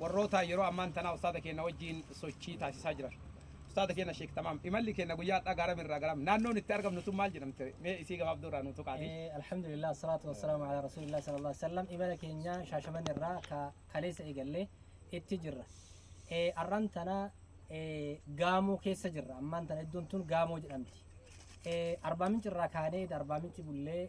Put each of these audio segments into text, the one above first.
warroota yeroo ammaan tanaa ustaada keenna wajjiin sochii taasisaa jiran. Ustaada keenna Sheek Tamaam, imalli keenna guyyaa har'aa gaara mirraa garam. Naannoon itti argamnu sun maal jedhamte? Mee isii gabaabduu irraa nuu tuqaati. Eh, Alhamdulillah, salatu wassalamu ala rasulillah sallallahu alaihi wasallam. Imala keenya shaashaman irraa ka kaleessa eegallee itti jirra. Eh, Arran tana eh, gaamoo keessa jirra. Ammaan tana iddoon tun gaamoo jedhamti. Eh, Arbaa Minci irraa kaanee Arbaa Minci bullee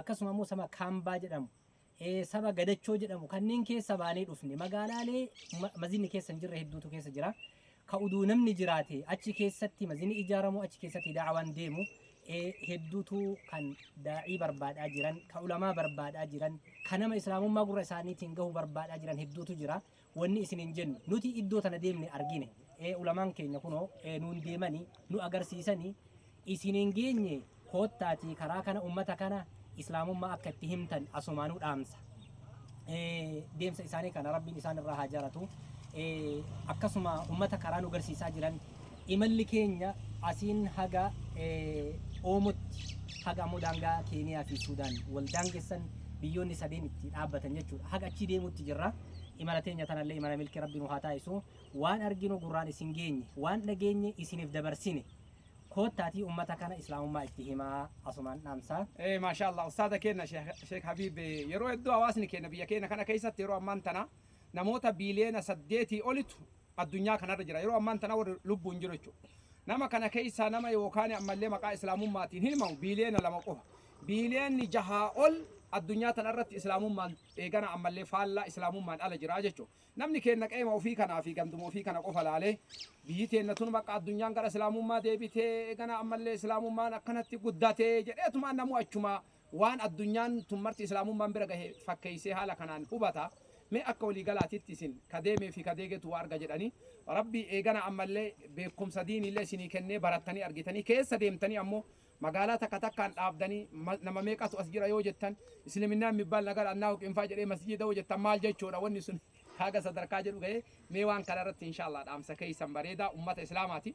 akkasuma immoo saba Kaambaa jedhamu, eh, saba Gadachoo jedhamu kanneen keessa baanee dhufne magaalaalee ma- mazinni keessa hin jirre hedduutu keessa jira. Ka uduu namni jiraate achi keessatti mazinni ijaaramu achi keessatti daawaan deemu eh, hedduutu kan daa'ii barbaadaa jiran, ka ulamaa barbaadaa jiran, ka nama islaamummaa gurra isaaniitiin gahu barbaadaa jiran hedduutu jira. wanni isiniin jennu nuti iddoo tana deemne argine ee ulamaan keenya kunoo ee nuun deemanii nu agarsiisanii isiniin geenye koottaatii karaa kana ummata kana islaamummaa akka itti himtan asumaanuu dhaamsa ee, deemsa isaanii kana rabbiin isaan irraa haa jaalatu ee, akkasuma ummata karaa nu garsiisaa jiran Imalli keenya asiin haga Oomotti, haga ammoo daangaa Keeniyaa fi Suudaan wal daangessan biyyoonni sadeen itti dhaabbatan jechuudha. Haga achii deemuutti jirra. Imala teenya tanallee imala milkii Rabbi nu haa taasisu. Waan arginu gurraan isin geenye, waan dhageenye isiniif dabarsine. Koottaatii ummata kana Islaamummaa itti himaa asumaan dhaamsa. Maashaa Allah ustaaza keenna sheek habiib yeroo hedduu hawaasni keenna biyya keenna kana keessatti yeroo ammaan tana namoota biiliyoona saddeetii olitu addunyaa kanarra jira yeroo ammaan tana warri lubbuun jiru jechuudha. Nama kana keessaa nama yookaan ammallee maqaa islaamummaatiin himamu biiliyoona lama qofa. Biiliyoonni jahaa ol addunyaa tanarratti islaamummaan eegana ammallee faallaa islaamummaan ala jira jechuudha. Namni keenna qeema ofii kanaa fi ganduma ofii kana qofa laalee biyyi teenna tun bakka addunyaan gara islaamummaa deebitee eegana ammallee islaamummaan akkanatti guddatee jedheetumaan namuu achumaa Waan addunyaan tun marti Islaamummaan bira gahe fakkeeysee haala kanaan hubata. Mee akka walii galaatitti isin ka deemee fii ka deegetu waa arga jedhanii. Rabbii eegana ammallee beekkumsa diiniillee isinii kennee barattanii argitanii keessa deemtanii ammoo magaalaa takka takkaan dhaabdanii nama meeqatu as jira yoo jettan Isliminnaan mibbaal nagar annaa huqinfaa jedhee masjiida yoo jettan maal jechuudha wanni sun haga sadarkaa jedhu gahee mee waan kana irratti inshaa Allah dhaamsa keeysan bareedaa ummata Islaamaati.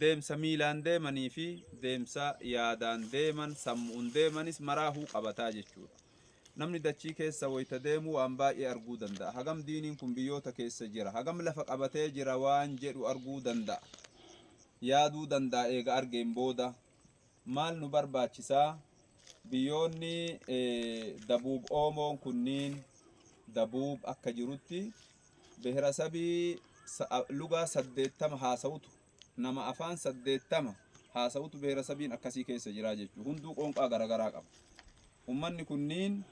Deemsa miilaan deemanii fi deemsa yaadaan deeman, sammu'uun deemanis maraahuu qabata jechuu dha. Namni dachii keessa woyta deemu waan baay'ee arguu danda'a. Hagam diiniin kun biyyoota keessa jira, hagam lafa qabatee jira waan jedhu arguu danda'a. Yaaduu danda'a eega argeen booda. Maal nu barbaachisa? Biyyoonni Dabuub Oomoon kunniin, Dabuub akka jirutti, Biherasabii lugaa 80 haasa'utu nama afaan 80 haasa'utu biherasabiin akkasii keessa jiraa jechuudha. Hunduu qoonqaa garagaraa qaba. Ummanni kunniin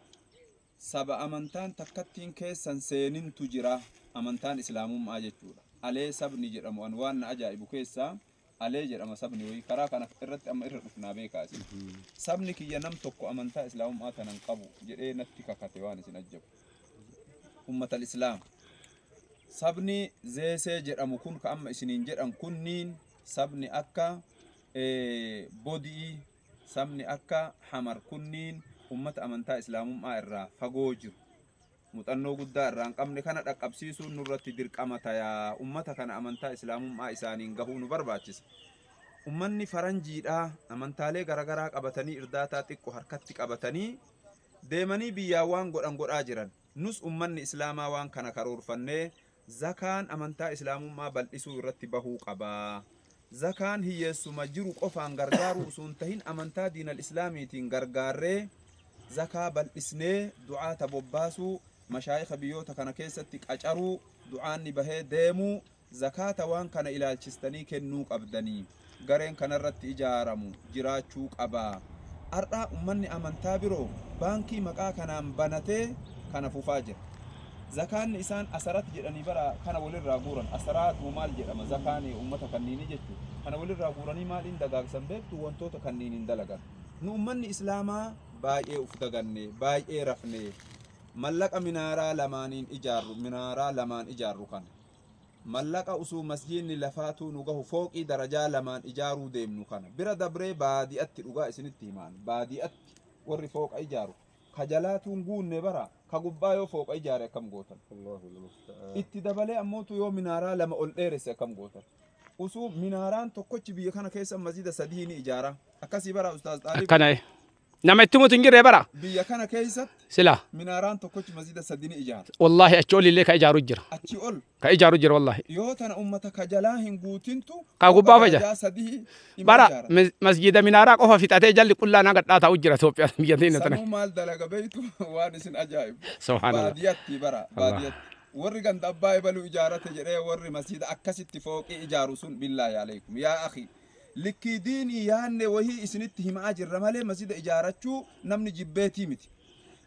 saba amantaan takkattiin keessan seenintu jira. Amantaan islaamummaa jechuudha. Alee sabni jedhamu an waan na ajaa'ibu keessaa Alee jedhama sabni wayii karaa kana irratti amma irra dhufnaa beekaa isin. Sabni kiyya nam tokko amantaa islaamummaa tanan qabu jedhee natti kakate waan isin ajjabu. Ummatal islaam. Sabni zeesee jedhamu kun ka amma isiniin jedhan kunniin sabni akka eh, bodi'ii sabni akka hamar kunniin ummata amantaa islaamummaa irraa fagoo jiru. Muxannoo guddaa irraan qabne kana dhaqqabsiisuun nurratti dirqama taya. Ummata kana amantaa Islaamum'aa isaaniin gahuu nu barbaachisa. Ummanni faranjiidhaa amantaalee garagaraa qabatanii irdaataa xiqqo harkatti qabatanii deemanii biyyaa waan godhan godhaa jiran. Nus ummanni Islaamaa waan kana karoorfannee Zakaan amantaa Islaamummaa bal'isuu irratti bahuu qaba. Zakaan hiyyeessuma jiru qofaan gargaaruu usu hin tahin amantaa diinal Islaamiitiin gargaarree zakaa bal'isnee du'aata bobbaasuu, mashaayikha biyyoota kana keessatti qacaruu, du'aanni bahee deemuu, zakaata waan kana ilaalchistanii kennuu qabdanii. gareen kanarratti ijaaramu jiraachuu qaba. Har'a ummanni amantaa biroo baankii maqaa kanaan banatee kana fufaa jira. Zakaanni isaan asarat jedhanii bara kana walirraa guuran asaraat moo maal jedhama zakaan ummata kanniinii jechu kana walirraa guuranii maaliin dagaagsan beektu wantoota kanniiniin dalagan. Nu ummanni Islaamaa baay'ee uf daganne, baay'ee rafne. Mallaqa minaaraa lamaaniin ijaarru, minaaraa lamaan ijaarru kana Mallaqa usuu masjiinni lafaatuu nu gahu fooqii darajaa lamaan ijaaruu deemnu kana bira dabree baadi'atti dhugaa isinitti himaan baadi'atti warri fooqa ijaaru ka jalaatuun guunne bara ka gubbaa yoo fooqa ijaare akkam gootan itti dabalee ammootu yoo minaaraa lama ol dheeresse akkam gootan usuu minaaraan tokkochi biyya kana keessa masjida sadii ni ijaara akkasii bara ustaaz xaalib akkana Nama itti mutu hin jirre bara. Biyya kana keessatti Sila. minaaraan tokkochi masjida sadii ni ijaara. Wallaahi achi ol illee ka ijaaru jira. Achi ol Ka ijaaru jira wallaahi. yoo tana ummata ka jalaa hin guutintu Ka gubbaa faja. darajaa sadii ima Bara ijaara. mas- masjida minaaraa qofa fixatee jalli qullaan haga dhaataa u jira Itoophiyaa biyya teenya tana. Sanuu maal dalaga beektu waan isin ajaa'ibu. Subhaanallah. Baadiyatti bara Allah. baadiyatti. Warri ganda abbaa ebaluu ijaarate jedhee warri masjida akkasitti fooqii ijaaru sun billaahi alaikum yaa akhi Likkii diinii yaanne wahii isinitti himaa jirra malee masjida ijaarachuu namni jibbeetii miti.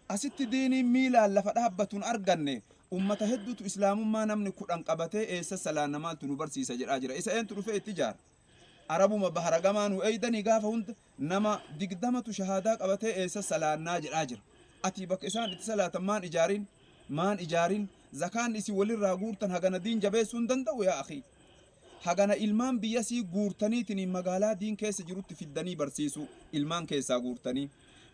Asitti diiniin miilaan lafa dhaabbatuun arganne ummata hedduutu islaamummaa namni kudhan qabatee eessa salaanna maaltu nu barsiisa jedhaa jira. Isa eentu dhufee itti ijaara? Arabuma bahara gamaa nu eeydanii gaafa hunda nama digdamatu shahaadaa qabatee eessa salaannaa jedhaa jira. Atii bakka isaan itti salaatan maan ijaarin? Maan ijaarin? Zakaan isin walirraa guurtan hagana diin jabeessuu hin danda'u yaa akhii? Hagana ilmaan biyyasii guurtaniitiniin magaalaa diin keessa jirutti fiddanii barsiisuu, ilmaan keessaa guurtanii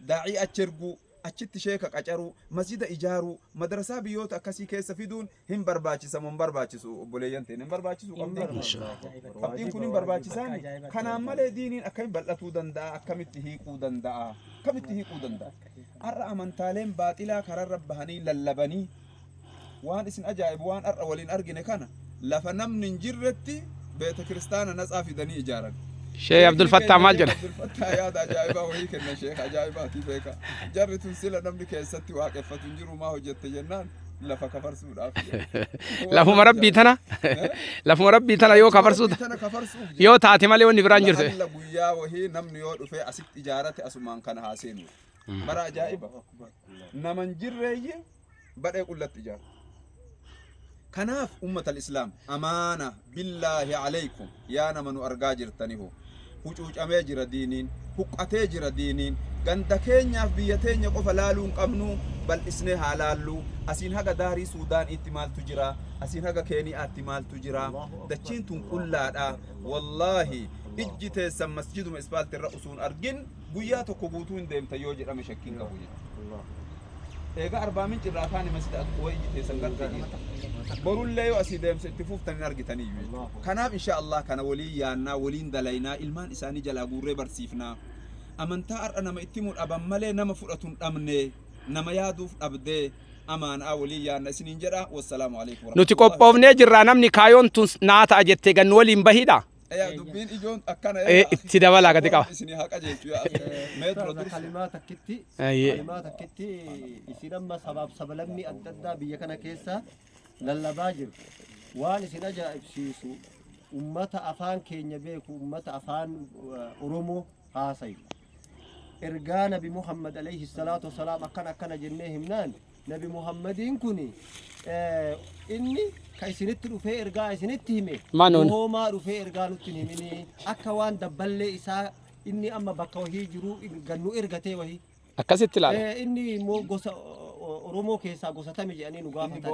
daa'ii achi erguu, achitti sheeka qacaruu, masjida ijaaruu, madrasaa biyyoota akkasii keessa fiduun hin barbaachisa moo hin barbaachisu obboleeyyan teenya? Hin barbaachisu qabxiin kun. Qabxiin kun hin barbaachisaani. Kanaan malee diiniin akkamitti bal'atuu danda'a? Akkamitti hiiquu danda'a? Akkamitti hiiquu danda'a? Har'a amantaaleen baaxilaa kararra bahanii lallabanii Waan isin ajaa'ibu waan har'a waliin argine kana lafa namni hin jirretti beeta kiristaana natsaa fidanii ijaaran. Sheekh Sheekni Abdul Fattah keenya maal Sheekh jedha? Abdul Fattah yaada ajaa'ibaa wayii kenna Sheekh ajaa'ibaati beeka. Jarri tun sila namni keessatti waaqeffatu hin jiru maa hojjette jennaan lafa kafarsuudhaaf. Waan Lafuma rabbii tana Eh? lafuma rabbii tana yoo kafarsuu Rabbii tana kafarsuuf jedhe. yoo taate malee wanni biraan jirtu. Laalla guyyaa wahii namni yoo dhufee asitti ijaarate asumaan kana haa seenu. Bara ajaa'iba. Naman jirreeyye badhee qullatti ijaartu. Kanaaf ummatal islaam amaana billaahi aleykum yaa nama nu argaa jirtani hoo hucuucamee jira diiniin huqqatee jira diiniin ganda keenyaaf biyya teenya qofa laaluu hin qabnuu bal'isnee haa laalluu asiin haga daarii suudaaniitti maaltu jira asiin haga keeniyaatti maaltu jira dachiin tun qullaadha wallaahi ijji teessan masjiduma ispaalti irra usuun argin Guyyaa tokko guutuu hin deemtan yoo jedhame shakkiin qabu jechuudha. Eegaa Arbaa Minci irraa kaane masjida Aqwaa iji teessan gartee dhiita. Borullee yoo asii deemsa itti fuuftan hin argitaniyyuu jechuudha. Kanaaf insha Allah kana waliin yaannaa waliin dalaynaa ilmaan isaanii jalaa guurree barsiifnaa. Amantaa har'a nama itti himu dhaban malee nama fudhatu hin dhabne nama yaaduuf dhabdee amaanaa waliin yaanna isiniin jedha. Wassalaamu alaikum Nuti warahmatullahi qophoofnee jirraa namni kaayoon tun naa ta'a jettee gannu waliin bahidha. Eyaa dubbiin ijoon akkana Ee, eyaa. itti dabalaa gadi qaba. Isin haqa jechu yaa. Meetro Kana dursa. kalimaa takkitti Ayyee. kalimaa takkitti isin amma sabaaf sabalammii adda addaa biyya kana keessa lallabaa jiru waan isin ajaa'ibsiisu ummata afaan keenya beeku ummata afaan uh, oromoo haasayu ergaa nabi muhammad alayhi salaatu wasalaam akkana akkana jennee himnaan Nabi Muhammadiin kun inni ka isinitti dhufee ergaa isinitti hime Manuun. hoomaa dhufee ergaa nutti hin himinii akka waan dabballee isaa inni amma bakka wahii jiru gannu ergatee wahii. Akkasitti ilaala. Eh, Inni immoo gosa o- o- Oromoo keessaa gosa tami jedhanii nu gaafatan.